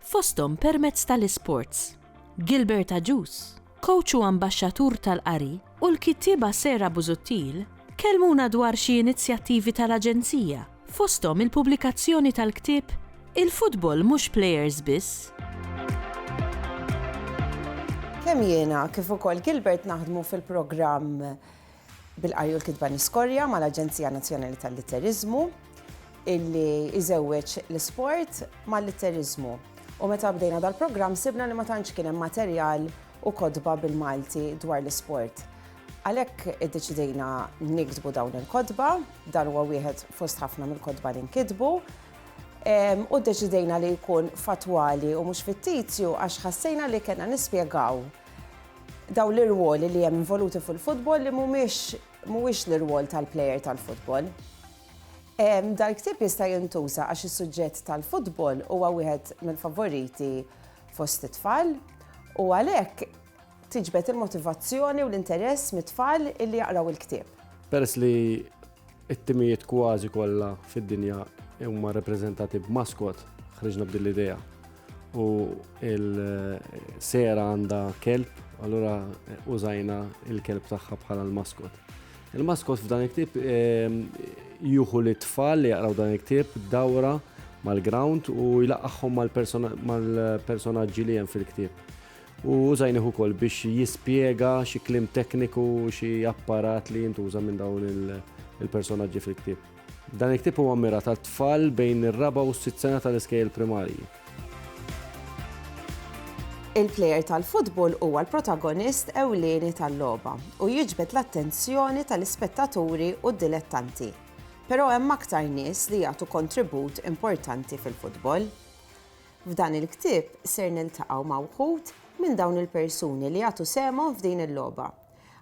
fosthom permezz tal-isports. Gilbert Agius, kowċ u ambaxxatur tal-qari, u l-kittieba Sarah Busuttil kellmuna dwar xi inizjattivi tal-Aġenzija, fosthom il-pubblikazzjoni tal-ktieb Il-Futbol Mhux Plejers Biss. Kemm jiena kif ukoll Gilbert naħdmu fil-programm bil-qari u l-kitba niskorja mal-Aġenzija Nazzjonali tal-Litteriżmu illi jżewweġ l-isport mal-litteriżmu u meta bdejna dal-programm sibna li ma tantx kien hemm materjal u kotba bil-Malti dwar l-isport. Għalhekk iddeċidejna niktbu dawn il-kotba, dan huwa wieħed fost ħafna mill-kotba li nkitbu, u ddeċidejna li jkun fattwali u mhux fittizju għax ħassejna li kellna nispjegaw dawn l-irwoli li hemm involuti fil-futbol li mhumiex mhuwiex l-irwol tal-plejer tal-futbol. Dal-ktieb jista' jintuża għax is-suġġett tal-futbol huwa wieħed mill-favoriti fost it-tfal u għalhekk tiġbed il-motivazzjoni u l-interess mit-tfal illi jaqraw il-ktieb. Peress li It-timijiet kważi kollha fid-dinja huma rappreżentati b'maskot, ħriġna b'din l-idea. U il-sera għandha kelb, allura użajna il-kelb tagħha bħala l-maskot. Il-maskot f'dan il-ktib ehm, juhu li tfal li jaqraw dan il-ktib dawra mal-ground u jlaqaħħom mal-personaġġi li hemm fil-ktib. u użajnih ukoll biex jispjega xi kliem tekniku, xi apparat li jintuża minn dawn il-personaġġi fil-ktieb. Dan il-ktieb huwa mmirat għal tfal bejn ir-raba' u s-sitt sena tal-iskejjel primarji. Il-plejer tal-futbol huwa l-protagonist ewlieni tal-logħba u jiġbed l-attenzjoni tal-ispettaturi u d-dilettanti. Però hemm aktar nies li jagħtu kontribut importanti fil-futbol. F'dan il-ktieb ser niltaqgħu ma' wħud minn dawn il-persuni li jagħtu sehemhom f'din il-logħba.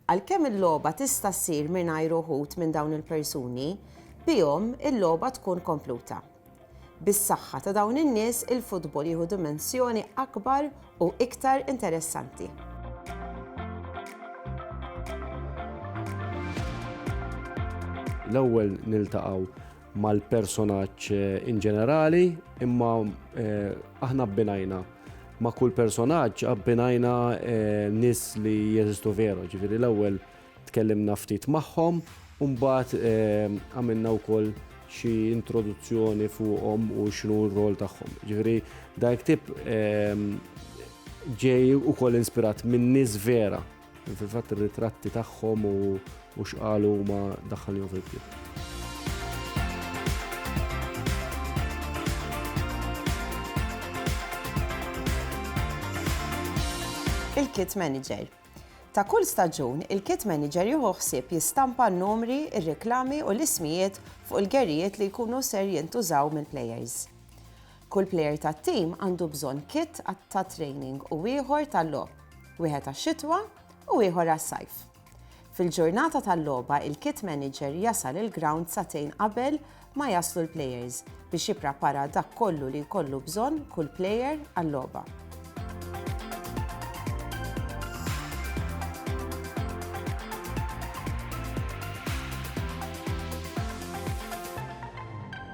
Għalkemm il-logħba tista' ssir mingħajr uħud minn dawn il-persuni, bihom il-logħba tkun kompluta. Bis-saħħa ta' dawn in-nies il-futbol jieħu dimensjoni akbar u iktar interessanti. L-ewwel niltaqgħu mal-personaġġ in ġenerali, imma aħna abbinajna ma' kull personaġġ abbinajna nis li jeżistu veru, ġifieri l-ewwel tkellimna ftit magħhom u mbagħad għamilna wkoll xi introduzzjoni fuqhom u x'inhu r-rwol tagħhom. Ġifieri dan il-ktieb ġej ukoll inspirat minn nies vera. Fil-fatt ir-ritratti tagħhom u x'qalu huma daħħalhom fil-ktieb. il-kit manager. Ta' kull staġun, il-kit manager jieħu ħsieb jistampa n-numri, ir-reklami u l-ismijiet fuq il-gerijiet li jkunu ser jintużaw mill-players. Kull plejer tat-tim għandu bżonn kit ta' training u ieħor tal-logħob, wieħed għax-xitwa u ieħor għas-sajf. Fil-ġurnata tal-logħba il-kit manager jasal il-grawnd sagħtejn qabel ma jaslu l-plejers biex jipprapara dak kollu li jkollu bżonn kull plejer għal-logħba.